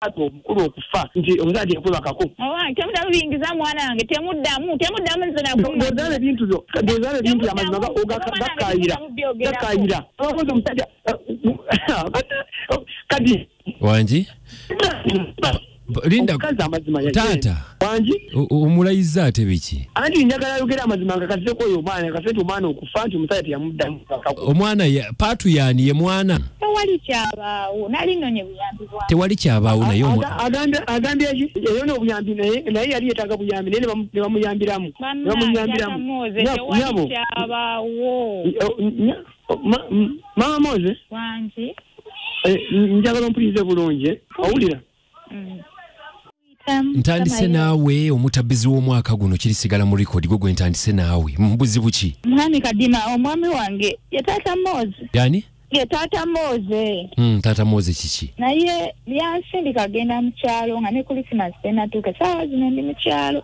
ate obukulu okufa nti omuzaala teyakwebakako temuddamu biyingiza mwana wange temuddamu temuddamu nzenaozala ebintu byo ozala ebintu byamazima gakayira gakayira abakozi omusajja kadi wangi linda taata omulayiza ate biki anti njagala ayogera amazima nga kaseko oyo omwana kasete omwana okufa nti omusajja teyamuddamu omwana paatu yani ye mwana tewali kyabaawo nali nonye buyambi tewali kyabaawo naye agambye eyona obuyambi naye yali yetaaga buyambi naye nebamuyambiramu nebamuyambiramunyabo mama moze eh, njagala ompulirize bulungi owulira mm. ntandise naawe omutabbizi w'omwaka guno kirisigala mu rekodi gwe gwe ntandise naawe mubuzibu ki mwami kadima omwami wange ye taata moozi yani ye taata mooze mm, taata mooze kiki naye yansindika agenda mu kyalo nga ne kulisimasi tenatuuka saawa zino ndi mu kyalo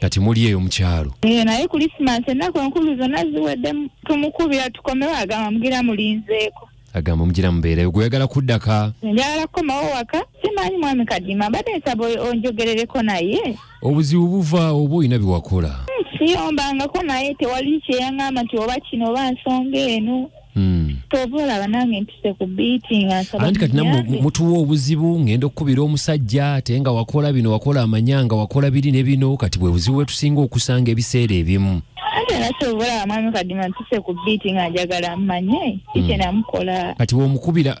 kati muli eyo mukyalo eh, naye kulisimansi ennaku enkulu zonna ziwedde tumukubira tukomewo agamba mugira mulinzeeko agamba mugira mubeereyo gweyagala kuddaka njagala kukomawo waka simanyi mwami kadima mbadde nsaba onjogerereko naye obuzibu buva oba olina byewakola hmm, siyombangako naye tewali kyeyaŋamba nti oba kino oba nsonga eno Hmm. kyova olaba nange ntuse ku biiti nga nsabaanti kati namwe mutuwa obuzibu ngenda okukubira omusajja ate nga wakola bino wakola amanya nga wakola biri ne bino kati bwe buzibu bwetusinga okusanga ebiseera ebimu ate nga kyova olaba mwami kadima ntuse ku biiti nga njagala mmanye kikyenamukola hmm. kati womukubira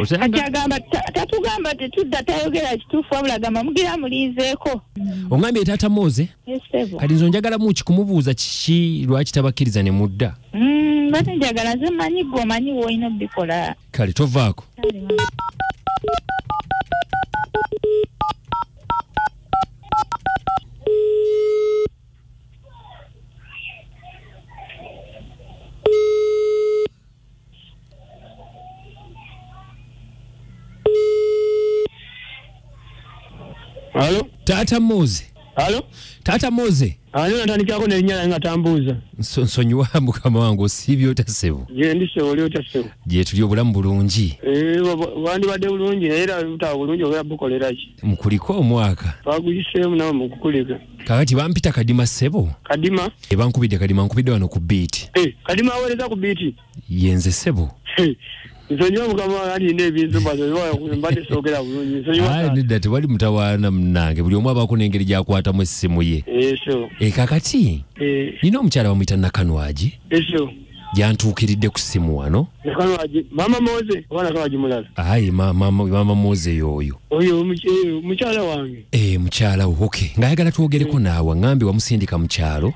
Osanga- kati agamba ta- tatugamba tetudda tayogera kituufu wabula agamba mugira mulinzeeko ongambye taata moze esebo kati nze onjagala muki kumubuuza kiki lwaki tabakkiriza ne mudda Mm, bate njagala nze manyi gwe omanyi woolina obikola kale tovaako Halo? Tata Moze. Halo? Tata Moze. Halo natandikako ne nyala nga tambuza. Nso nsonyiwa mukama wangu sibyo tasebo. Je ndi sebo lyo tasebo. Je tuli obulamu bulungi. Eh wandi bade bulungi era uta bulungi oya bukolera ki. Mukuliko omwaka. Baguyise mu na mukukulika. kakati bampita kadima sebo kadima ebankubidde kadima nkubidde wano ku biiti hey, eh, kadima awereza ku biiti yenze sebo hey. Eh, nsonyiwa mukama alina ebintu mbadde soogera bulungi nsonyiwanedda tewali mutawaana munange buli omu abaako n'engeri gyakwatamu essimu ye ekyo eh, e kakati nina omukyala bamuyita nakanwagi ekyo gyantuukiridde ku ssimu wano maama moze obaana kawagi mulala ayi maama moze yooyo oyo eh, mukyala wange eh, mukyala wo oke ng'ayagala twogereko eh. naawe aŋambye wamusindika mu kyalo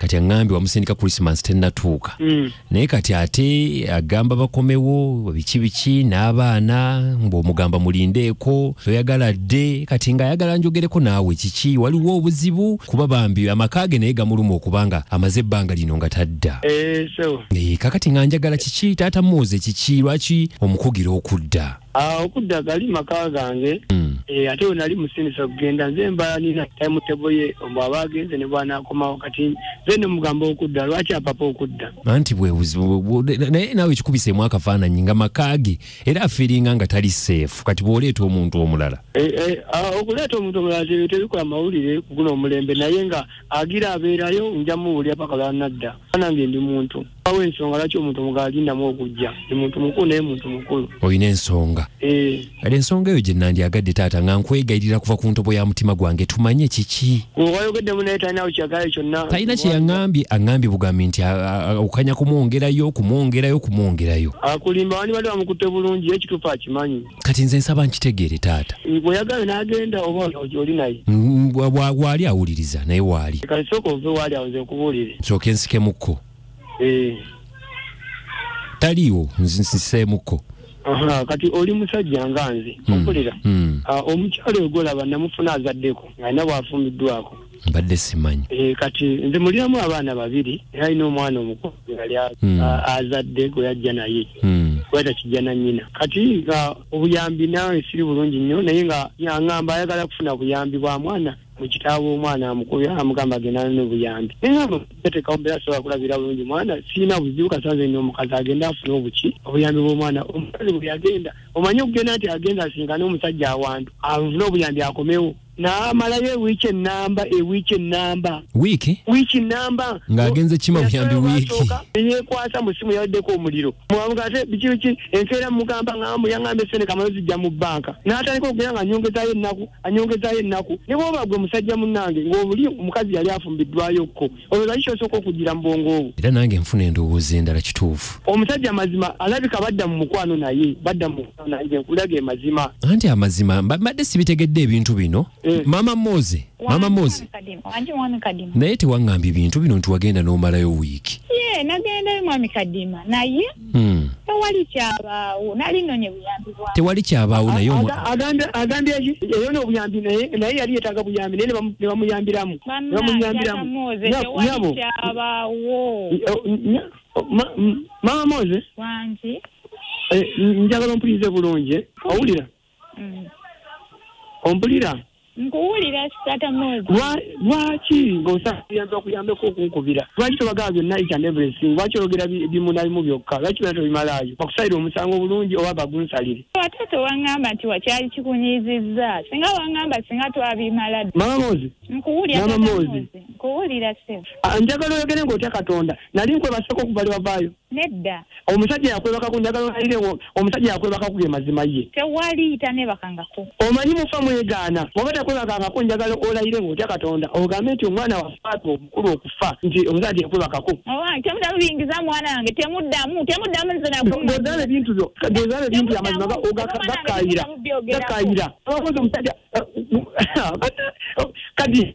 kati aŋambye wamusindika krisimas tennatuuka mm. naye kati ate agamba bakomewo biki biki n'abaana ng'omugamba mulindeeko toyagala dde kati ng'ayagala njogereko naawe kiki waliwo obuzibu kuba bambi amaka ge naye gamuluma okubanga amaze ebbanga ino nga tadda eh, eh, kakati nga njagala kiki taata muze kiki lwaki omukugira okudda ah, okudda gali maka gange hmm. eh, ate wenali musinisa okugenda nze mbala nina time table ye omu aba agenze ne bwana akomawo kati nze ne mugamba okudda lwaki apapa okudda anti bwebuzibu naye nawe ekikubisemu akafaananyi nga maka ge era afiringa nga tali seefu kati bwoleeta omuntu omulala ah, okuleeta omuntu omulala tebikola mawulire kuguno omulembe naye nga agira abeerayo nja muwulira paka lwanadda anange ndi muntu awo ensonga lwaki omuntu omugala alindamu okujja ndi muntu mukulu naye muntu mukulu olina ensonga eh. kale ensonga eyo gye nandyagadde taata nga nkwegayirira kuva ku ntobo ya mutima gwange tumanye kiki owayogeddemu naye talinawo kyagala kyonna talina kye yaŋambye aŋambye bugambi nti okanya kumwongerayo okumwongerayo okumwongerayo akulimba wani bali bamukutte bulungi ekituufu akimanyi kati nze nsaba nkitegeere taata bweyagala nagenda oba oli naye waali awuliriza naye waali kati sooka ove waali awo nze nkubuulire nsooka ensikemukko eh. taliiwo nsiseemukko kati oli musajja nga nze hmm. okulira hmm. ah, omukyalo ogolaba namufuna azaddeko nga nabwafumiddwako mbadde simanyi eh, kati nze muliramu abaana babiri era alina omwana omukulu yali hmm. azadde gwe yajja naye hmm. weta kijja na nyina kati nga obuyambi nawe siri bulungi nnyo naye nga yangamba ayagala kufuna buyambi bwa mwana mukitaawe omwana amukubye amugamba agenda nobuyambi nayeatekawo mbeera sobola kulabira bulungi mwana sirina buzibu kasanze ni omukazi agenda afune obuki obuyambi bwomwana omukazi bweyagenda omanye okugenda nti agenda asinkane omusajja awantu afune obuyambi akomewo n'amalayo ewiiki ennamba ewiiki ennamba wiiki wiiki nnamba ng'agenze kima buyambi wiiki neyekwasa mu ssimu yaweddeko omuliro mwamuga ate biki biki enkeera mugamba ngambu yangamba esente kamalo zijja mu bbanka n'atandika okugera nga anyongezayo ennaku anyongezayo ennaku ne bwoba gwe musajja munnange ng'obuli omukazi yali afumbiddwayokko oyo lwaki kyosooka okugira mu bwongo obwo era nange nfuna endowooza endala kituufu omusajja amazima alabika badda mu mukwano naye badda mu mukwano naye nze nkulaga emazima anti amazima mba- mbadde sibitegedde ebintu bino Eh. maama moze maama moze wanje mwami kadima naye tewaŋŋambye bintu bino nti wagenda n'omalayo wiiki ye nagendayo mwami kadima naye Mm. tewali kyabaawo nali nnonye buyambi bwa tewali kyabaawo naye omu- Aga- agambye agambye nti eyo n'obuyambi naye naye yali yetaaga buyambi naye ne bamu- ne bamuyambiramu ne bannange bamuyambiramu atamooze Nya- tewali nyabo kyabaawo eh, nya- ma- m- maama moze wangi eh, njagala ompulirize bulungi eh? owulira Mm. ompulira nkuwulira sitata mozi lwaki ngaosayanza okuyambeko okunkubira lwaki tobagala byonna each and everything lwaki oyogera bimunabimu byokka lwaki byona tobimalaayo bakusalira omusango obulungi oba bagunsalire ate tewangamba nti wakyali kikunyizizza singa wangamba singa twabimala mama mozi nkuwulira mama mozi nkuwulira se ah, njagala oyogere ngaotya katonda nali nkwebaseko okuva lwewavaayo Nedda. Omusajja yakwebaka ku njagala olayire wo omusajja yakwebaka ku ge mazima ye. Tewali tanebakangako. Omanyi mufa mwegaana bw'oba takwebakangako njagala olayire ng'otya Katonda ogambe nti omwana wa Faatu omukulu okufa nti omusajja teyakwebakako. Owange temuddamu biyingiza mwana wange temuddamu temuddamu nze nakumanyi. Bw'ozaala ebintu byo bw'ozaala ebintu byo amazima gakaayira gakaayira. Omusajja kati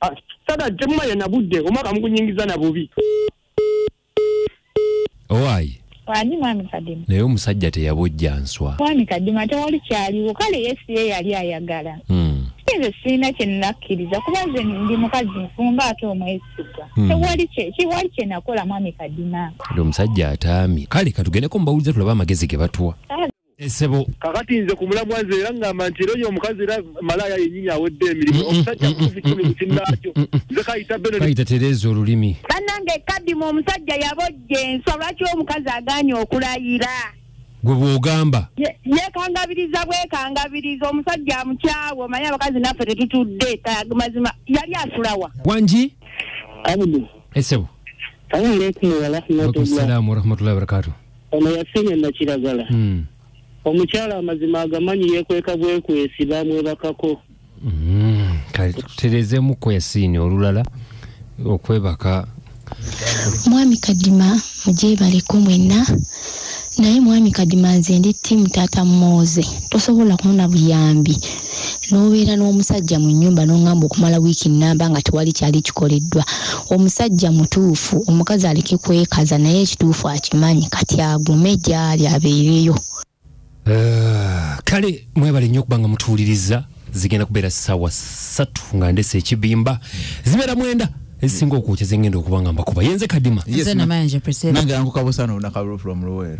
ah, sada temumanya na budde omwaka mugunyingiza na bubi owaayi ani mwami kadima naye omusajja teyabojja nswa mwami kadima tewali kyaliwo kale yesu ye yali ayagala hmm. nze sirina kyenakkiriza kuba nze ndi mukazi nfumba ate omwesigwa hmm. tewali kiwali kyenakola mwami kadima omusajja ataami kale katugendeko mubawuliza tulaba amagezi ge batuwa esebo kakati nze ku mulamwa nze era ngamba nti era oyo omukazi era malaaya yennyini awedde emirimu omusajja kukufu kikumi ku kinnaakyo nze kayita beno kayita tereeza olulimi bannange kadimu omusajja yabojja enswa lwaki omukazi agaanye okulayira gwe bw'ogamba yeekangabiriza bwekangabiriza omusajja amukyawe omanyi abakazi naffe tetutudde mazima yali asulawa wangi abdu esebo salamu alaikum warahmatullahi wabarakatuh ono yasenya nakiragala hmm. omukyala amazima agamanyi yekweka bwekwesi bamwebakako hmm. tuterezeemu kwesiini olulala okwebaka mwami kadima mugyebaleko mwenna naye mwami kadima nze ndi tiimu taata mooze tosobola kumuna buyambi n'obeera n'omusajja mu nnyumba n'oŋŋamba okumala wiiki nnamba nga tewali kyali kikoleddwa omusajja mutuufu omukazi aleke kwekaza naye ekituufu akimanyi kati agume gy'ali abeereyo ah, kale mwebale nnyo okuba nga mutuwuliriza zigenda kubeera ssaawa ssatu nga ndese ekibimba zibeera mwenda ezisinga okwokya zengenda okuba nga mbakuba yenze kadima nange yankukabusa nolunakalulo from luweero